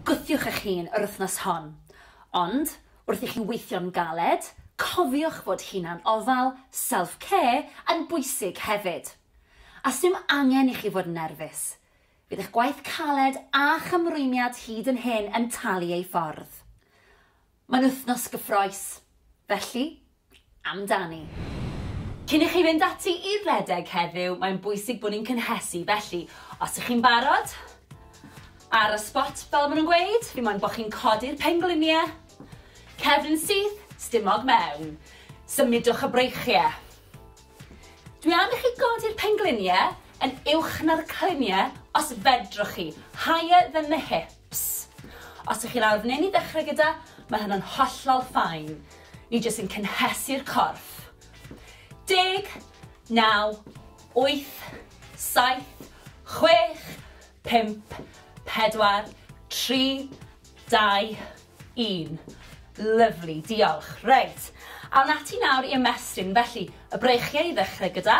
Gwthiwch eich hun yr wythnos hon. Ond, wrth i chi weithio'n galed, cofiwch fod hunan-ofal, self-care, yn bwysig hefyd. A sdim angen i chi fod yn nerfus. Bydd eich gwaith caled a'ch ymrwymiad hyd yn hyn yn talu ei ffordd. Mae'n wythnos gyffrous, felly, amdani. Cyn i chi fynd ati i redeg heddiw, mae'n bwysig bod ni'n cynhesu, felly, os ych chi'n barod, ar y spot, fel maen nhw'n gweud, dim ond bod chi'n codi'r pengliniau, cefn syth, stumog mewn, symudwch y breichiau. Dwi am i chi godi'r pengliniau yn uwch na'r cliniau, os fedrwch chi, higher than the hip. Ps. Os ych chi lawr neu'n i ddechrau gyda, mae hynna'n hollol fine. Ni jyst yn cynhesu'r corff. Deg, naw, wyth, saith, chwech, pump, pedwar, tri, dau, un. Lyfli, diolch. Reit, awn ati nawr i ymestyn. Felly, y breichiau i ddechrau gyda.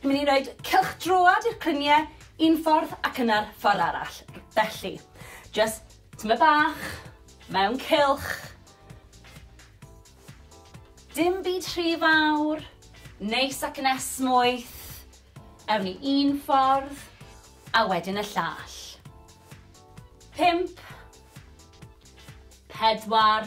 Ni'n mynd i roed cylch droad i'r clynie un ffordd ac yna'r ffordd arall. Felly, just tyma bach, mewn cylch. Dim byd rhy fawr, neis ac yn esmwyth. Ewn ni un ffordd, a wedyn y llall. Pimp. Pedwar.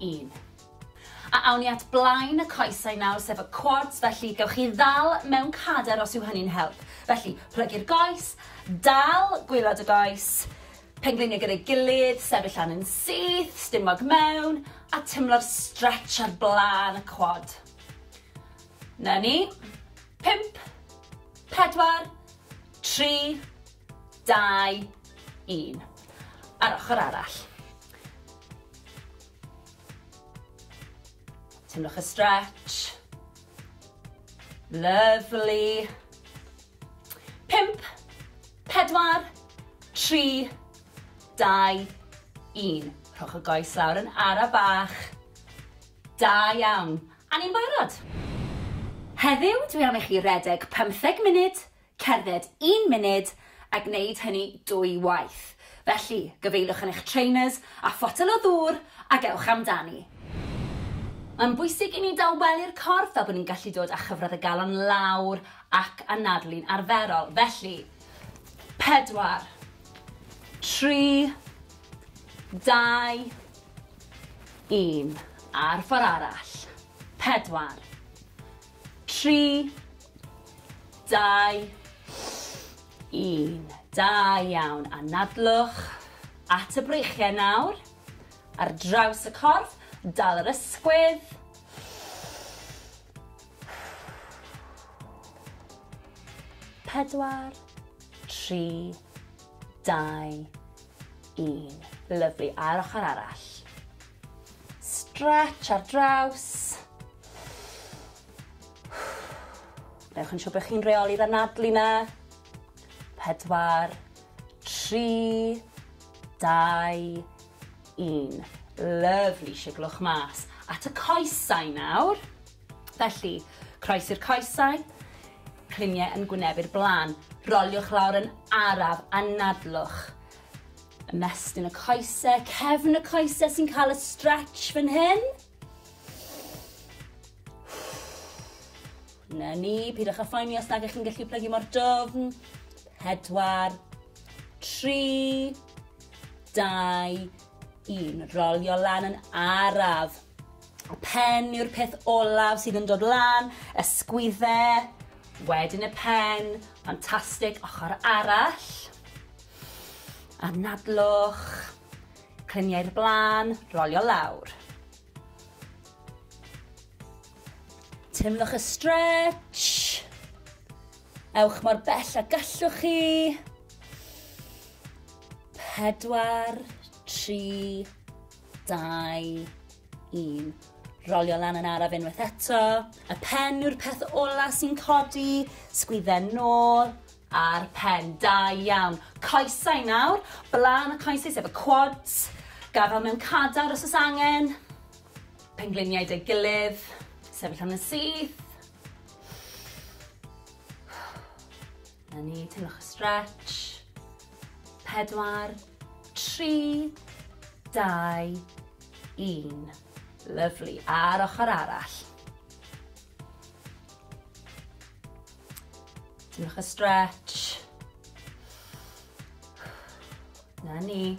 un. A awn ni at blaen y coesau nawr, sef y quads, felly gewch chi ddal mewn cader os yw hynny'n help. Felly, plygu'r goes, dal gwylod y goes, pengliniau gyda'i gilydd, sefyll lan yn syth, stumog mewn, a tymlo'r stretch ar blaen y quad. Na ni. Pimp, pedwar, tri, dau, un. A'r ochr arall. Teimlwch y stretch. Lovely. Pimp, pedwar, tri, dau, un. Rhowch y goes lawr yn ara bach. Da iawn. A ni'n barod. Heddiw, dwi am i chi redeg 15 munud cerdded un munud a gwneud hynny dwy waith. Felly, gyfeiliwch yn eich trainers a photel o ddŵr ac ewch amdani. Mae'n bwysig i ni dawelu'r corff fel bod ni'n gallu dod â chyfradd y galon lawr ac anadlu'n arferol. Felly, pedwar, tri, dau, un. A'r ffordd arall. Pedwar, 3, 2, 1. Da iawn. Anadlwch at y breichiau nawr. Ar draws y corff, dal yr ysgwydd. Pedwar, tri, dau, un. Lyfli. A'r ochr arall. Stretch ar draws. Newch yn siŵr bod chi'n reoli'r anadlu na. Pedwar, tri, dau, un. Lyfli, siglwch mas. At y coesau nawr. Felly, croes i'r coesau, cliniau yn gwnebu'r blaen. Roliwch lawr yn araf, anadlwch. Ymestyn y coese, cefn y coese sy'n cael y stretch fan hyn. Na ni, pidwch â phoeni os nag ych chi'n gallu plygu mor dofn. Pedwar, tri, dau, un. Rolio lan yn araf. Y pen yw'r peth olaf sydd yn dod lan, y sgwydde, wedyn y pen, ffantastig, ochr arall. Anadlwch, clymu i'r blaen, rolio lawr. Teimlwch y stretch. Ewch mor bell a gallwch chi. Pedwar, tri, dau, un. Rolio lan yn araf unwaith eto. Y pen yw'r peth ola sy'n codi. Sgwydden nôl, Ar pen, da iawn. Coesau nawr, blaen y coesau sef y quads, gafael mewn cadar os oes angen, pengliniau deg gilydd, sefyll am yn syth. Na ni, teimlwch y stretch. Pedwar, tri, dau, un. Lyflu, a'r ochr arall. Diolch y stretch. Na ni.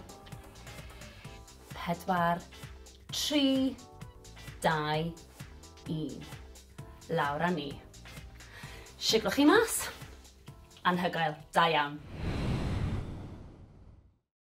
Pedwar, tri, dau, un. Lawr â ni. Siglwch chi mas. Anhygoel, da iawn.